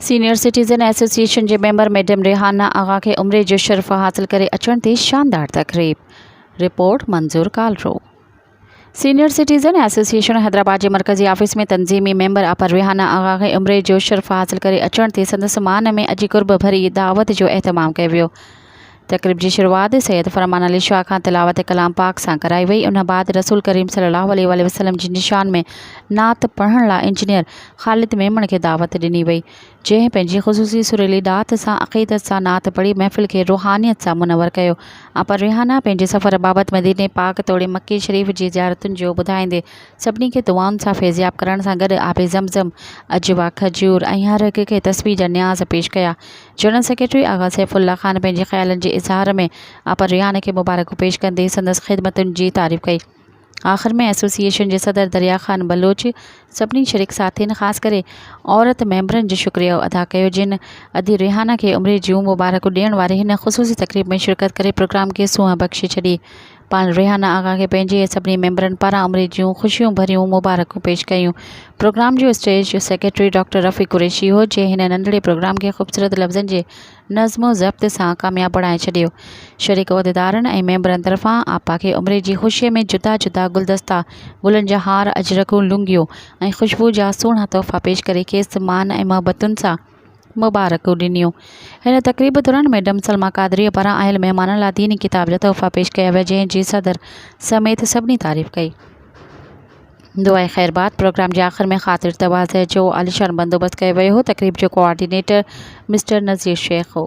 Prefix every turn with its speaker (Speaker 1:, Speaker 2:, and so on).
Speaker 1: Senior citizen association جي member madam Rehana Agha کي عمري جو شرف حاصل ڪري اچڻ تي شاندار تقريب، report Manzoor Kalro. Senior citizen association Hyderabad جي مرڪزي آفيس ۾ تنظيمي ميمبر آپر ريحانه آغا کي عمري جو شرف حاصل ڪري اچڻ تي سندس مان ۾ اڄ قرب ڀري دعوت جو اهتمام ڪيو ويو تقريب جي شروعات سيد فرمان علي شاهه کان تلاوت ڪلام پاڪ سان ڪرائي وئي ان بعد رسول ڪريم صلي الله عليه واٰله وسلم جي نشان ۾ نعت پڙهڻ لاء انجنيئر خالد ميمڻ کي دعوت ڏني وئي جنهن پنهنجي خصوصي سريلي ڏات سان عقيدت سان نعت پڙهي محفل کي روحانيت سان منور ڪيو آپا ريحانه پنهنجي سفر بابت مديني پاڪ توڙي مڪي شريف جي زيارتن جو ٻڌائيندي سڀني کي دعائن سان فيضياب ڪرڻ سان گڏ آب زم زم عجوا کجور ۽ هر هڪ کي تسبيح جا نياز پيش ڪيا general secretary Agha Saifullah Khan پنهنجي خيالن جي اظهار ۾ آپر ريحان کي مبارڪون پيش ڪندي سندس خدمتن جي تعريف ڪئي. آخر ۾ ايسوسيئيشن جي صدر دريا خان بلوچ سڀني شريڪ ساٿين خاص ڪري عورت ميمبرن جو شڪريو ادا ڪيو جن ادي ريحان کي عمري جون مبارڪون ڏيڻ واري هن خصوصي تقريب ۾ شرڪت ڪري پروگرام کي سونهن بخشي ڇڏي پاڻ ريحانه آغا کي پنهنجي سڀني ميمبرن پاران عمري جون خوشيون ڀريون مبارڪون پيش ڪيون. پروگرام جو stage secretary doctor Rafiq Qureshi هو، جنهن هن ننڍڙي پروگرام کي خوبصورت لفظن جي نظم و ضبط سان ڪامياب بڻائي ڇڏيو. شريڪ عهديدارن ۽ ميمبرن طرفان آپا کي عمري جي خوشيء ۾ جدا جدا گلدستا، گلن جا هار، اجرڪون، لونگيون ۽ خوشبو جا سهڻا تحفا پيش ڪري کيس مان ۽ محبتن سان مبارڪون ڏنيون. هن تقريب دوران ميڊم سلميٰ قادريء پاران آيل مهمانن لاء ديني ڪتاب جا تحفا پيش ڪيا ويا، جنهن جي صدر سميت سڀني تعريف ڪئي. دعائي خير بعد پروگرام جي آخر ۾ خاطر تواضع جو عاليشان بندوبست ڪيو ويو هو. تقريب جو ڪوآرڊينيٽر مسٽر نذير شيخ هو.